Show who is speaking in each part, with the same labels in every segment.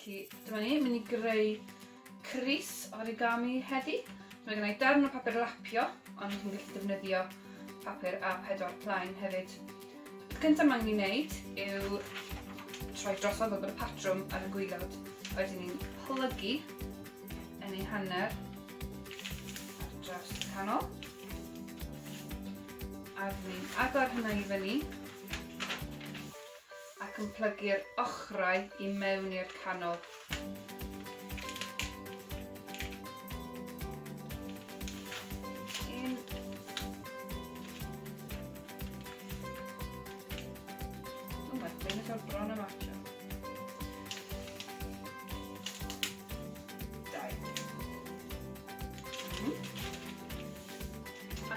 Speaker 1: Felly, dyma ni, mynd i greu Cris origami heddi. Mae gennau darn o papur lapio, ond chi'n gallu defnyddio papur a pedwar plaen hefyd. Y cyntaf mae'n ni'n neud yw troi drosodd o bod y patrwm ar y gwylod. Wedyn ni'n plygu yn ei hanner ar draws y canol. A rydyn ni'n agor hynna i fyny. ac yn plygu'r ochrau i mewn i'r canol.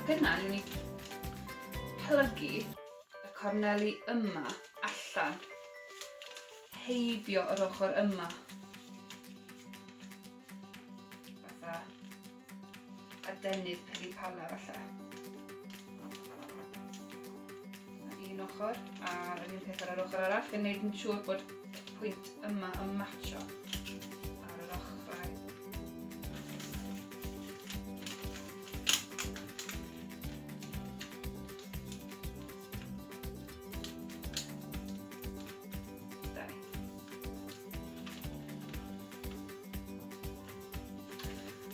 Speaker 1: Ac yna, ni'n mynd i plygu Y corneli yma, allan. Heibio yr ochr yma. Fatha. A denydd peli pala fatha. Un ochr, a'r un peth ar yr ochr arall, yn neud yn siŵr bod pwynt yma yn matcho.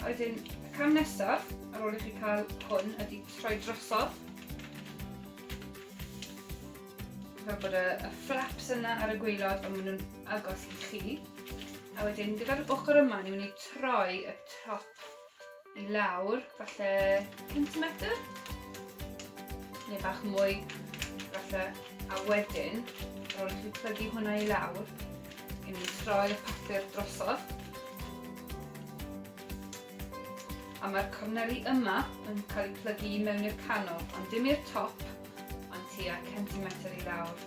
Speaker 1: A wedyn, y cam nesaf, ar ôl i chi cael hwn, ydy troi drosodd. Fel bod y, y flaps yna ar y gweilod, ond maen nhw'n agos i chi. A wedyn, gyda'r ochr yma, ni'n mynd i troi y top i lawr, falle centimetr, neu bach mwy, falle, a wedyn, ar ôl i chi plygu hwnna i lawr, i ni troi y papur drosodd. A mae'r corneli yma yn cael eu plygu i mewn i'r canol, ond dim i'r top, ond tua centimetr i lawr.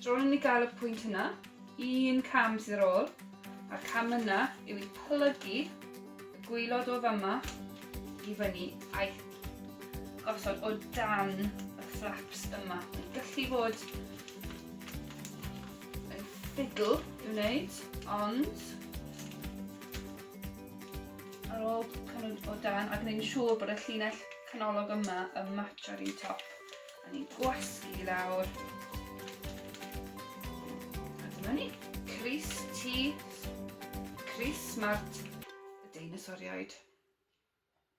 Speaker 1: Dro ni gael y pwynt yna, un cam sydd ar ôl, a'r cam yna yw i plygu y gwylod o fama i fyny a'i gosod o dan y flaps yma. Mae'n gallu fod yn ffidl i wneud, ond ar ôl cynnig o dan a gwneud yn siŵr bod y llinell canolog yma yn match ar un top. A ni'n gwasgu i lawr. A dyma ni. Cris ti. Cris smart. Y deinosoriaid.